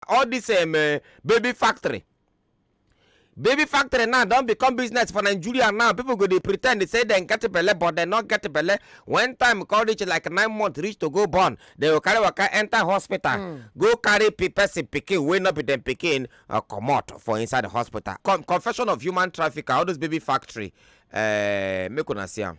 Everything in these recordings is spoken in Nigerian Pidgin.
all this um, uh, baby factory baby factory now don become business for nigeria now people go dey pretend say dem get belle but dem no get belle when time come reach like nine months reach to go born dem go carry waka enter hospital hmm. go carry person pikin wey no be dem pikin uh, comot for inside the hospital confession of human trafficker all those baby factory uh, make una see am.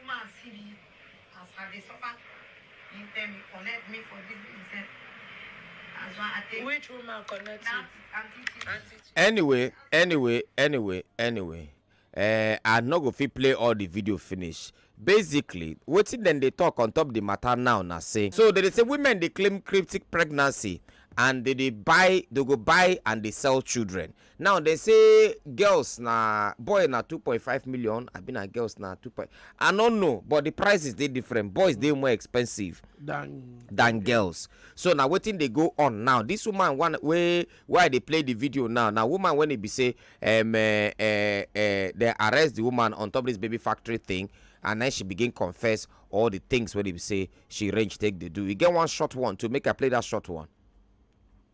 Woman see me as I dey suffer, him tell me connect me for this thing sef. That's why I take Which woman connect you? that aunty Chichi. Auntie Chi- anyway anyway anyway anyway eh, i no go fit play all the video finish basically wetin dem dey talk on top the matter now na say so dem dey say women dey claim cryptic pregnancy and dem dey buy dem go buy and dey sell children now dem say girls na boy na two point five million abi na girls na two point i no know but the prices dey different boys dey more expensive than than girls so na wetin dey go on now this woman one wey wey i dey play the video now na woman wey e be say um, uh, uh, uh, they arrest the woman on top this baby factory thing and then she begin confess all the things wey e be say she range take dey do e get one short one to make i play that short one.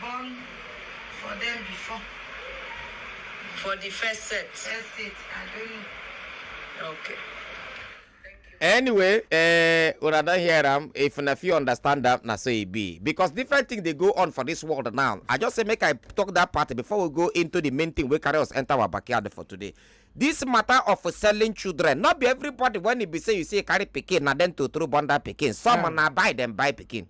Born for dem before. For the first set. First set, I don't know. Okay. anyway eh, una don hear am if una fit understand am na so e be because different things dey go on for this world now i just say make i talk that part before we go into the main thing wey carry us enter our backyard for today this matter of selling children not be everybody when e be say you say carry pikin na dem to throw born that pikin some na buy dem buy pikin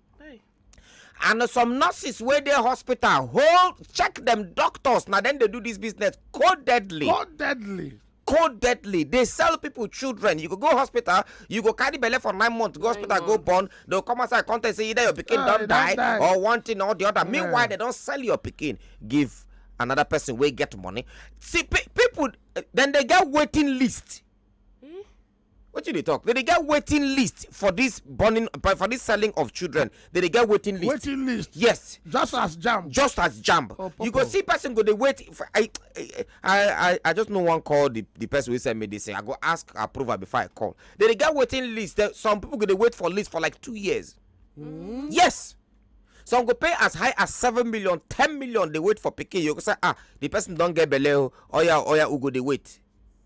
and some nurses wey dey hospital hold check dem doctors na dem dey do this business codedly codedly codedly dey sell people children you go go hospital you go carry belle for nine months go hospital go born they go come outside come tell you say either your pikin ah, don die or one thing or the other meanwhile they don sell your pikin give another person wey get money see people then they get waiting list wetin you dey talk they dey get waiting list for this burning but for this selling of children they dey get waiting list waiting list yes just as jam just as jam Oh, you go popo. see person go dey wait for, I, I i i just no wan call the the person wey send me this thing i go ask approval before i call they dey get waiting list There- some people go dey wait for list for like two years yes some go pay as high as seven million ten million dey wait for pikin you go say ah the person don get belle o oya oya u go dey wait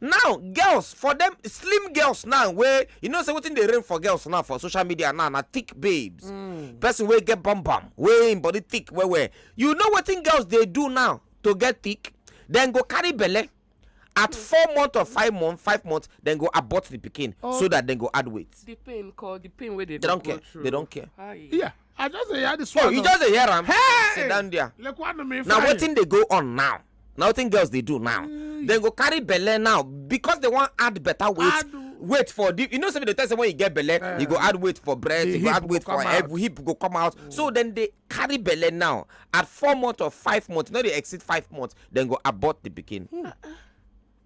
Now girls for them slim girls now wey you know say wetin dey reign for girls now for social media now na thick babes. Mm. Person wey get bum bum wey im body thick well well. You know wetin girls dey do now to get thick? Dem go carry belle at four months or five months five months then go abort the pikin so oh. that dem go add weight. the pain call the pain wey dey go through they don't care. yeah. I just dey hear this oh, one. Oh, you just dey hear am? Hey! Sit down there. Lekwanụ m ife Na wetin dey go on now? Na wetin girls dey do now? Mm. Dem go carry belle now because they wan add better weight. Add weight for the you know say the test when you get belle uh, eh. you go add weight for breast you go add weight for hip hip go come out mm. so then they carry belle now at four months or five months no dey exceed five months then go abort the pikin. Mm.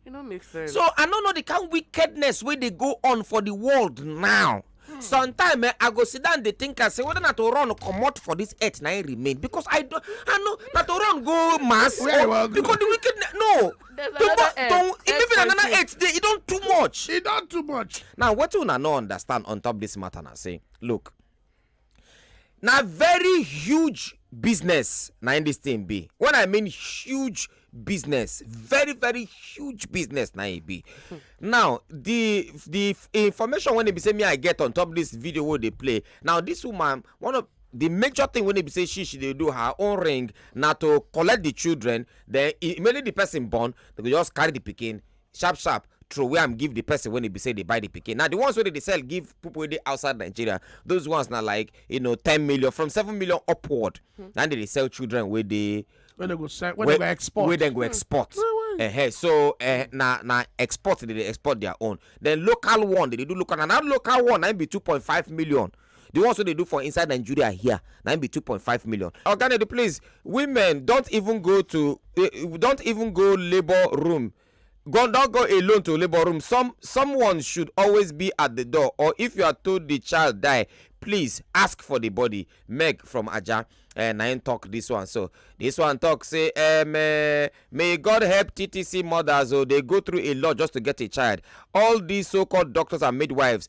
e no make sense so i no know the kind wickedness wey dey go on for the world now hmm. sometimes eh, i go sit down dey think am say whether na to run comot for this earth na im remain because i don i know na to run go mass or because the wickedness no to e maybe na another earth dey e don too much e don too much now wetin una no understand on top this matter na say look na very huge business na im this thing be when i mean huge business very very huge business na e be now the the information wey e be say me i get on top this video wey dey play now this woman one of the major thing wey e be say she she dey do her own ring na to collect the children then immediately the person born they go just carry the pikin sharp sharp throway am give the person when e be say dey buy the pikin na the ones wey dey dey sell give people wey dey outside nigeria those ones na like you know ten million from seven million upward hmm. na dey dey sell children wey dey wey dem go sell wey dem go export wey dem go hmm. export uh-huh. so uh, na na export dey dey export their own then local one dey dey do local na that local one na be two point five million the ones wey dey do for inside nigeria here na im be two point five million oga nedi please women don't even go to eh, don't even go labour room go don go alone to labour room some someone should always be at the door or if you are told the child die please ask for the body meg from aja uh, na im talk this one so this one talk say um, uh, may god help ttc mothers o dey go through a lot just to get a child all these so-called doctors and midwives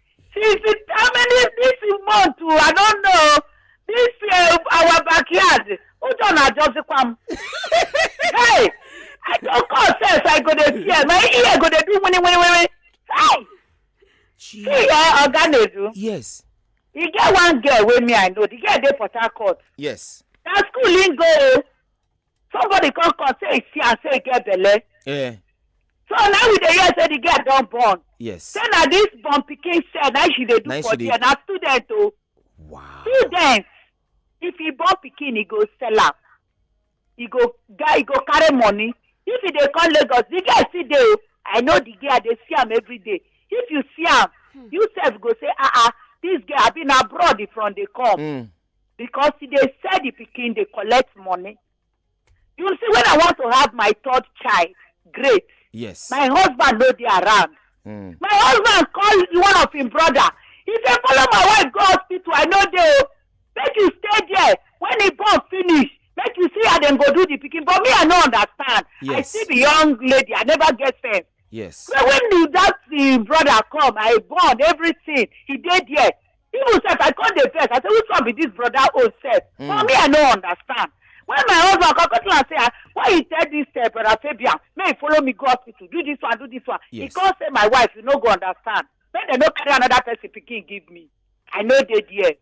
Since the how many this month o, I don't know this uh, our backyard ụjọ na-ajọzikwa m. Hey, I don call sense I go dey fear my ear go dey do wini wini wini. Hey, see Gee. eh oga Nedu, yes e get one girl wey me I know, the girl dey Port Harcourt. yes Na school im go o, somebody come come say e see am say e get belle eh. so now we dey hear say the girl don born yes say na this born pikin sef na she dey do for there na student o oh. wow student if he born pikin he go sell am he go guy he go carry money if he dey come lagos the girl still dey o oh. i know the girl i dey see am every day if you see am hmm. you sef go say ah ah this girl abi na abroad from dey come mm. because e dey sell the pikin dey collect money you see when i want to have my third child great yes my husband no dey around mm. my husband call one of him brother he say follow my wife go hospital i no dey o make you stay there when he born finish make you see how dem go do the pikin but me i no understand yes. i see the young lady i never get sense yes so when the, that the brother come i born everything he dey there even sef i come dey vex i say which one be this brother own sef mm. for me i no understand when my husband come come tell am say ah, why you tell this uh, brother fabian make he follow me go hospital do this one do this one yes. he come say my wife you no go understand make dem no carry another person pikin give me i no dey there.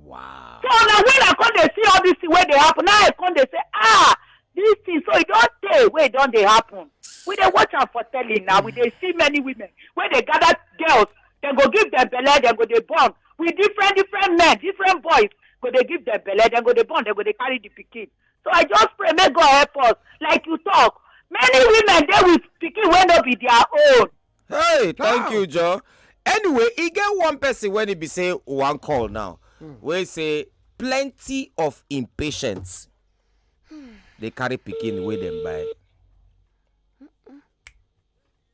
wow. so na when i come dey see all this thing wey dey happen now i come dey say ah this thing so e don tey wey e don dey happen we dey watch am for telly now we dey see many women wey dey gather girls dem go give dem belle dem go dey born with different different men different boys go dey give dem belle dem go dey born dem go dey carry the pikin so i just pray make god help us like you talk many women dey with pikin wey no be their own. hey thank you joe anyway e get one person wey e be say one call now hmm. wey say plenty of impatience dey carry pikin wey dem buy.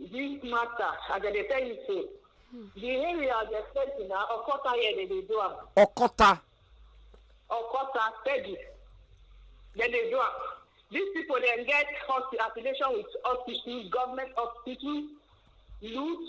This matter, as I dey tell you so, the area as a person na Okota here they dey do am. Okota. Okota, Peggy. Then they do am. These people then get hospi- affiliation with hospitals, government hospitals, loot,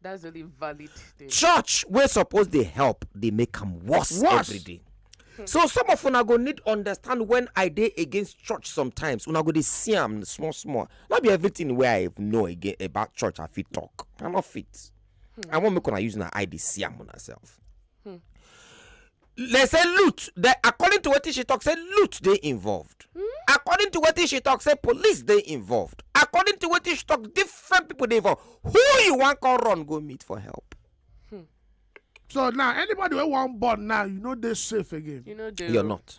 That's the only valid thing. church wey suppose dey help dey make am worse Worse. every day so some of una go need understand when i dey against church sometimes una go dey see am small small no be everything wey i know again about church i fit talk i no fit i wan make una use una eye dey see am una sef they say loot they according to wetin she talk say loot dey involved hmm? according to wetin she talk say police dey involved according to wetin she talk different people dey involved who you wan come run go meet for help hmm. so now anybody wey wan born now you no dey safe again you no dey you're not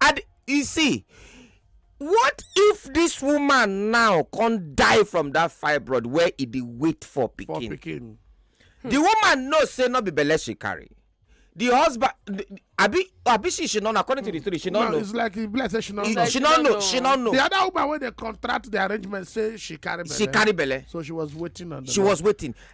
and you see what if this woman now come die from that fibroid where e dey wait for pikin pikin the woman know say no be belle she carry the husband abi abi she she no know according to the story she no no know it's like e be like say she no He- know she no know she no know the other woman wey dey contract the arrangement say she carry belle she carry belle so she was waiting on the she Lord. was waiting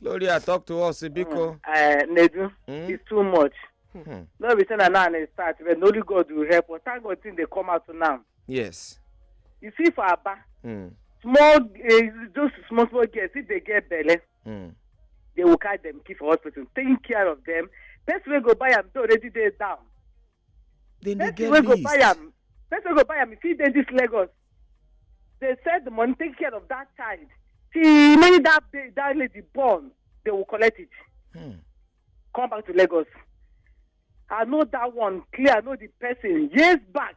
gloria talk to us biko Eh, Nedu, Mm. it's too much. Hmm. No be say na now I start, but na only God will help us. Thank God things dey come out now. yes You see for Aba, Hmm. small, eh, those small, small girls, if they get belle, Hmm. they will carry them keep for hospital, taking care of them. Person wey go buy am, they already dey down. dem dey get person wey go buy list am person wey go buy am fit dey this lagos dey sell the money take care of that child till many that day that lady born they will collect it Hmm. come back to lagos i know that one clear i know the person years back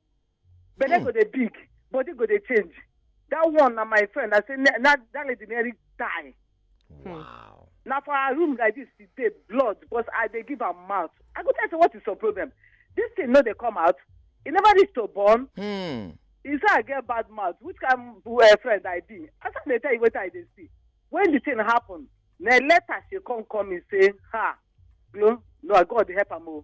belle go dey big body go dey change that one na my friend i say na na- that lady nearly die Wow. na for her room like this she dey blood because i dey give am mouth i go tell say what is your problem this thing no dey come out e never reach to born Hmm. e say i get bad mouth which kind uh, friend i be as i dey tell you wetin i dey see when the thing happen na later she come call me say ha glo no i god dey help am o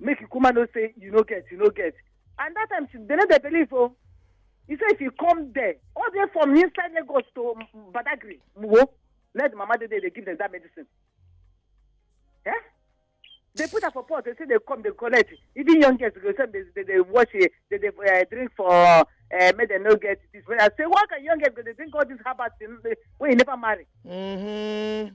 make you kuma know say you no get you no get and that time she dey no dey believe o he say if you come there all the way from inside lagos to M- badagry muwo let the mama dey there dey give them that medicine eh they put am for pot they say they come they collect even young girls go say they they dey wash eh, they dey uh, drink for uh, make dem no get this i say why can young girls go dey drink all this herbal thing wey you never marry Mm-hmm.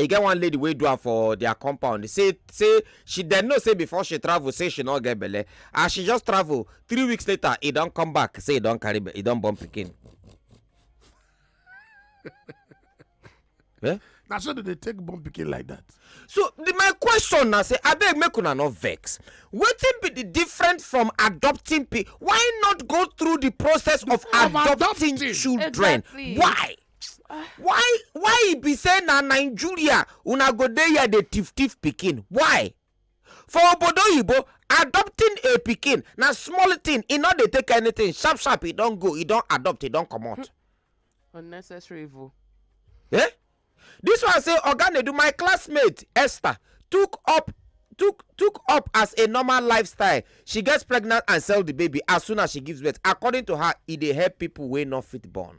e get one lady wey do am for their compound say say she dem know say before she travel say she no get belle as she just travel three weeks later e don come back say e don carry be- e don born pikin. Eh? na so dem dey take born pikin like that. so the, my question na say abeg make una no vex wetin be the different from adopting pe why not go through the process of Of adopting, adopting. children Exactly. why why why e be say na nigeria una go dey here dey thief thief pikin why for obodo oyibo adopting a pikin na small thing e no dey take anything sharp sharp e don go e don adopt e don comot. Hmm. unnecessary evil. Eh? this one say oga nedu my classmate esther took up took took up as a normal lifestyle she gets pregnant and sell the baby as soon as she gives birth according to her e dey help people wey no fit born.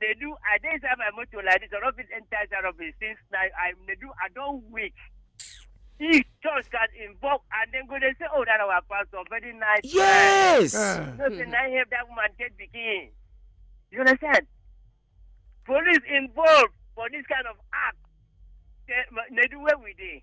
They do. I dey inside my motor like this. I don't fit enter inside office since like I they do. I don't wait. If church can invoke and then go they say, oh, that our pastor very nice. man." yes Eh. No say na him help that woman get pikin. You understand? Police involved for this kind of act. They, they do where we dey.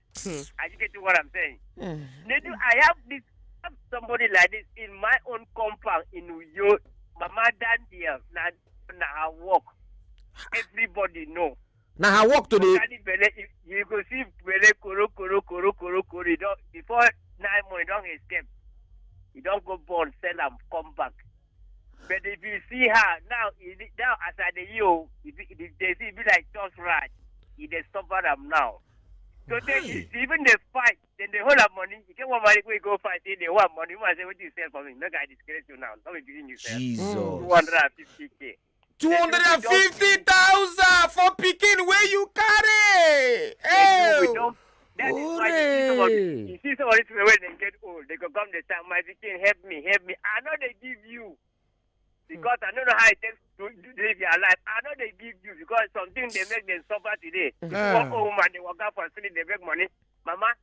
Hmm. Are you getting what I'm saying? Mm. Nedu, I have this I have somebody like this in my own compound in New York. Mama Daniel, na na her work. Everybody know. na her work to dey Carry belle, you, you go see belle koro koro koro koro koro. You don before nine months, you don escape. You don go born, sell am, come back. But if you see her now, e be- now as I dey hear, o, e be- the the thing be like tough ride. E dey suffer am now. So then Why? she even dey fight, then they hold her money. You get one money wey go fight, say they want money. Woman say, "What you sell for me? Make I disgrace you now. Not be giving you sell. Jesus. Two hundred and fifty k. two hundred and fifty thousand for pikin wey you carry. Hey. That is why you see some of these people when they get old, they go come they say, "My pikin, help me, help me." I know they give you because I don't know how it takes to live your life. I know they give you because something they make them suffer today. Yeah. One woman they work out for sleep, they make money. Mama,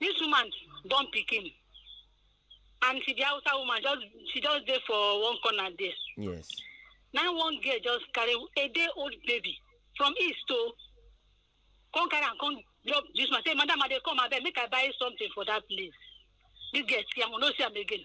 this woman born pikin and she be hausa woman just she just dey for one corner there yes na one girl just carry a day old baby from east o come carry am come drop this man say madam i dey come abeg make i buy something for that place this girl see am we no see am again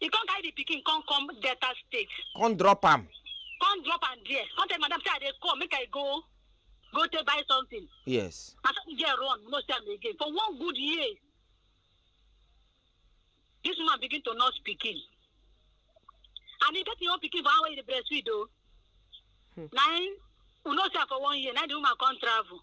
He come carry the pikin come come Delta State. Come drop am. Come drop am there. Come tell madam say I dey come make I go go take buy something. Yes. Na so the girl run no see am again for one good year. This woman begin to nurse pikin. And he get him own pikin for how he dey breastfeed o. Na him we no see am for one year na the woman come travel.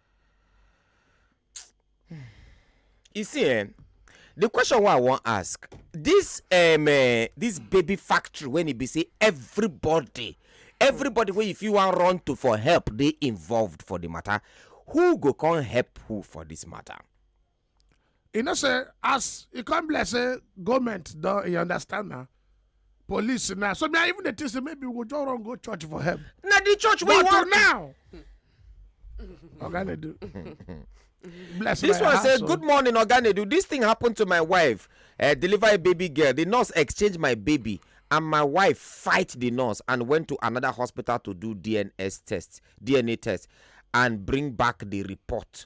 you see eh the question wey i wan ask this um, uh, this baby factory when e be say everybody everybody wey you fit wan run to for help dey involved for the matter who go come help who for this matter. e know say as e come be like say goment don e understand na police na so me i even dey think say maybe we go just run go church for help na the church wey but to wan now oga dey do bless This my one say, household. Good morning, Oganedu. This thing happened to my wife. Uh, deliver a baby girl. The nurse exchanged my baby, and my wife fight the nurse and went to another hospital to do DNS test, DNA test, and bring back the report.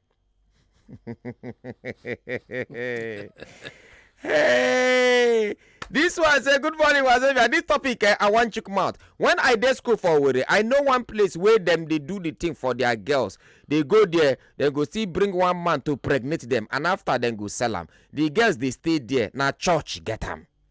hey! This one say good morning wazobia this topic eh, i wan chook mouth when i dey school for owerri i know one place wey dem dey do the thing for their girls dey go there dem go still bring one man to pregnate dem and after dem go sell am the girls dey stay there na church get am.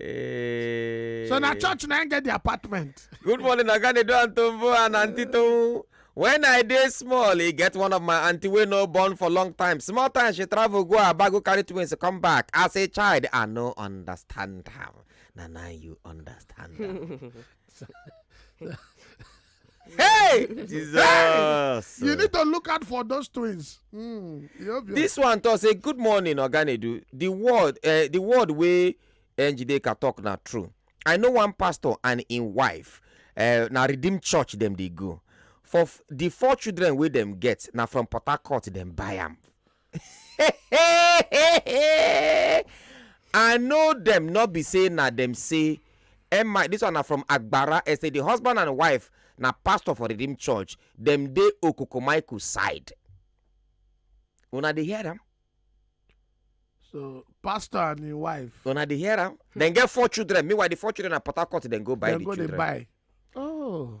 Eh. so na church na im get the apartment. good morning oga nedo and tombo and aunty tohun when i dey small e get one of my aunty wey no born for long time small time she travel go aba go carry twins come back as a child i no understand am na now you understand am. hey jesus hey! you need to look out for those twins mm, this one talk say good morning oganedu the word uh, the word wey njideka talk na true i know one pastor and im wife uh, na redeem church dem dey go for the four children wey dem get na from port harcourt dem buy am i know dem no be say na dem say emma this one na from agbara estate the husband and wife na pastor for redeem church dem dey okukumaiku side una dey hear am so pastor and him wife una dey hear am dem get four children meanwhile the four children na port harcourt dem go buy the children dem go dey buy oh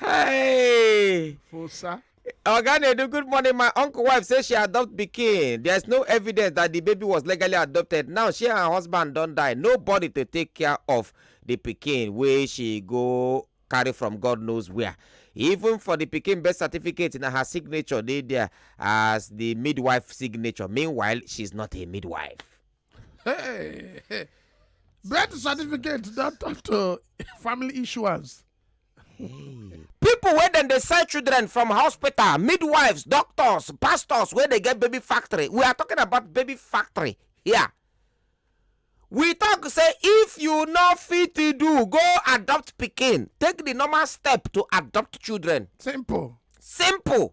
hey fosa oga nedu good morning my uncle wife say she adopt pikin there is no evidence that the baby was legally adopted now she and her husband don die nobody to take care of the pikin wey she go carry from god knows where even for the pikin birth certificate na her signature dey there as the midwife signature meanwhile she is not a midwife. Hey, hey. Birth certificate don turn to family issuance. Hey. People wey dem dey sell children from hospital, midwives, doctors, pastors wey dey get baby factory. We are talking about baby factory here. Yeah. we talk say if you no fit do go adopt pikin take the normal step to adopt children simple simple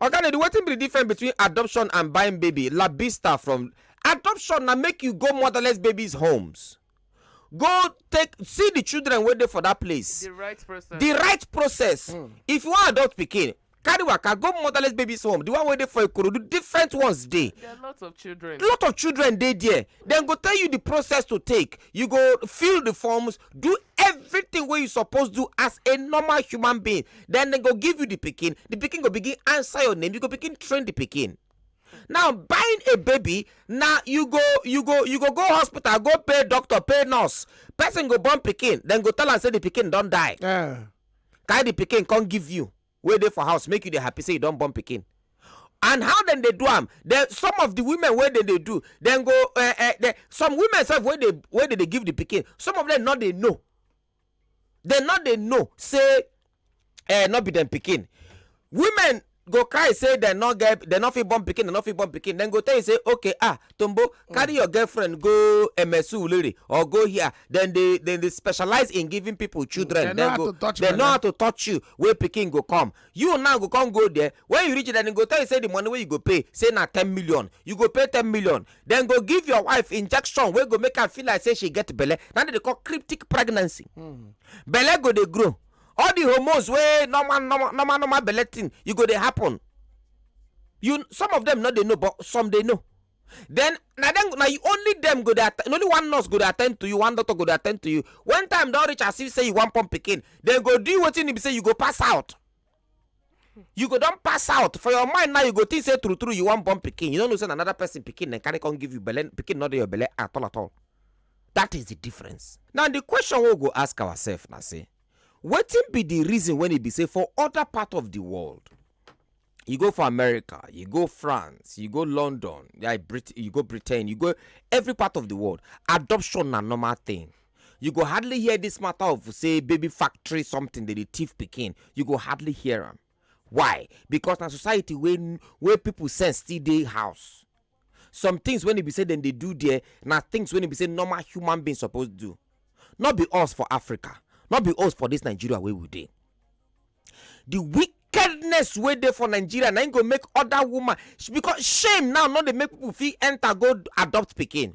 oga lady wetin be the difference between adoption and buying baby labista from adoption na make you go motherless babies homes go take see the children wey dey for that place the right process the right process mm. if you wan adopt pikin carry waka go motherless babies home the one wey dey for ikorodu different ones dey there are lots of children lot of children dey there dem go tell you the process to take you go fill the forms do everything wey you suppose do as a normal human being then dem go give you the pikin the pikin go begin answer your name you go begin train the pikin now buying a baby na you go you go you go go hospital go pay doctor pay nurse person go born pikin dem go tell am say the pikin don die Yeah. carry the pikin come give you wey dey for house make you dey happy say you don born pikin and how dem dey do am dem some of the women wey dem dey do dem go uh, uh, dem, some women sef wey dey wey dey dey give the pikin some of them no dey know dem no dey know say eh, no be dem pikin women go cry say dem no get dem no fit born pikin dem no fit born pikin dem go tell you say okay ah tombo carry your girlfriend go emesu ulere or go here dem dey dem dey specialize in giving people children Dem know how go to touch dem know belle. how to touch you wey pikin go come you now go come go there when you reach there dem go tell you say the money wey you go pay say na ten million you go pay ten million dem go give your wife injection wey go make am feel like say she get belle na dem dey call cryptic pregnancy hmm. belle go dey grow all the hormones wey normal normal normal normal belle thing you go dey happen you some of them no dey know but some dey know then na dem na you only dem go dey only one nurse go dey attend to you one doctor go dey attend to you when time don reach as if say you wan pump pikin dem go do you wetin e be say you go pass out you go don pass out for your mind now you go think say true true you wan born pikin you no know say na another person pikin dem carry come give you belle pikin no dey your belle at all at all that is the difference now the question wey we go ask ourselves na say wetin be the reason when e be say for other part of the world you go for america you go france you go london yeah, Brit- you go britain you go every part of the world adoption na normal thing You go hardly hear this matter of say baby factory something dey dey thief pikin. You go hardly hear am. Why? Because na society wey wey people sense still dey house. Some things wey e be say dem dey do there na things wey e be say normal human being suppose do. No be us for Africa, no be us for this Nigeria wey we dey. The wickedness wey dey for Nigeria na im go make other woman because shame now no dey make people fit enter go adopt pikin.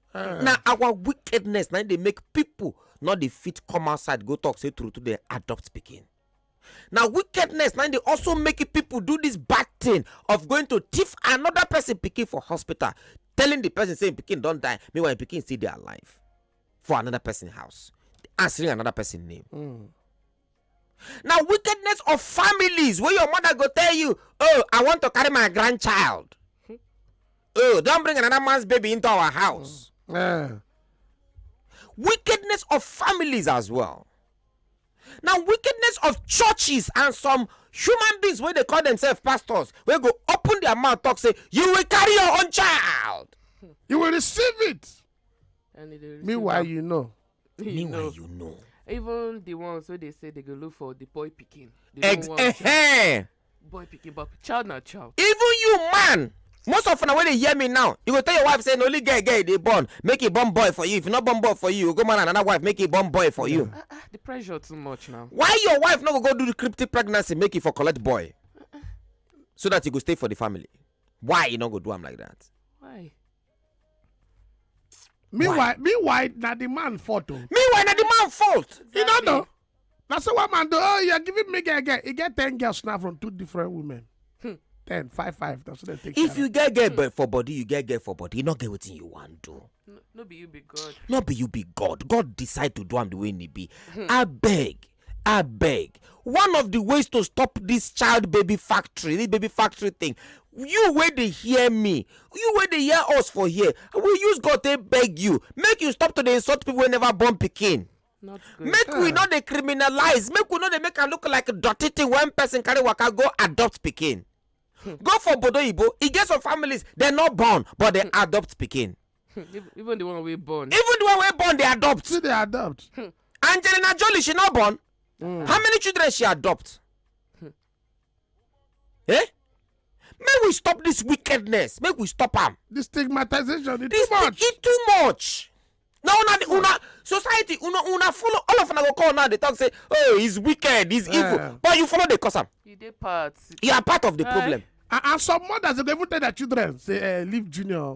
Eh. na our wickedness na dey make people no dey fit come outside go talk say true true dey adopt pikin na wickedness na dey also make people do this bad thing of going to thief another person pikin for hospital telling the person say im pikin don die meanwhile im pikin still dey alive for another person house answering another person name. Mm. na wickedness of families wey your mother go tell you oh i want to carry my grandchild oh don bring another man's baby into our house Eh, wickedness of families as well na wickedness of churches and some human beings wey dey call themselves pastors wey go open their mouth talk say you will carry your own child you will receive it And it is- meanwhile you know you meanwhile know you know even the ones wey dey say they go look for the boy pikin ex eh, eh. boy pikin but child na child even you man most of una wey dey hear me now you go tell your wife say na only girl girl dey born make e born boy for you if you no born boy for you you go marry another wife make e born boy for you. Uh, uh, the pressure too much now. why your wife no go go do the cryptic pregnancy make e for collect boy uh, so that e go stay for the family why e no go do am like that. why. meanwhile meanwhile na the man fault o. Oh. meanwhile na the man fault. you no know na so one man do oh you are giving me girl girl he get ten girls now from two different women. Hmm. ten five five na so dem take. if you get girl hmm. for body you get girl for body you no get wetin you wan do. no, no be you be god. no be you be god god decide to do am the way e be. Hmm. abeg abeg one of the ways to stop this child baby factory this baby factory thing you wey dey hear me you wey dey hear us for here we use god take beg you make you stop to dey insult people wey never born pikin not good make we no dey criminalize make we no dey make am look like dirty thing when person carry waka go adopt pikin go for bodo oyibo e get some families dem no born but dem adopt pikin even the one we born. even the one we born they adopt. see they adopt. Hmm. angelina jolie she not born. Mm. how many children she adopt. Hmm. eh. make we stop this wickedness make we stop am. the stigmatization e too much. e too much. na una the una society una una follow all of una go call now dey talk say oh he's wicked he's yeah. evil but you follow dey cause am. you dey part. you are part of the uh, problem. and and some mothers dey even tell their children say eh leave junior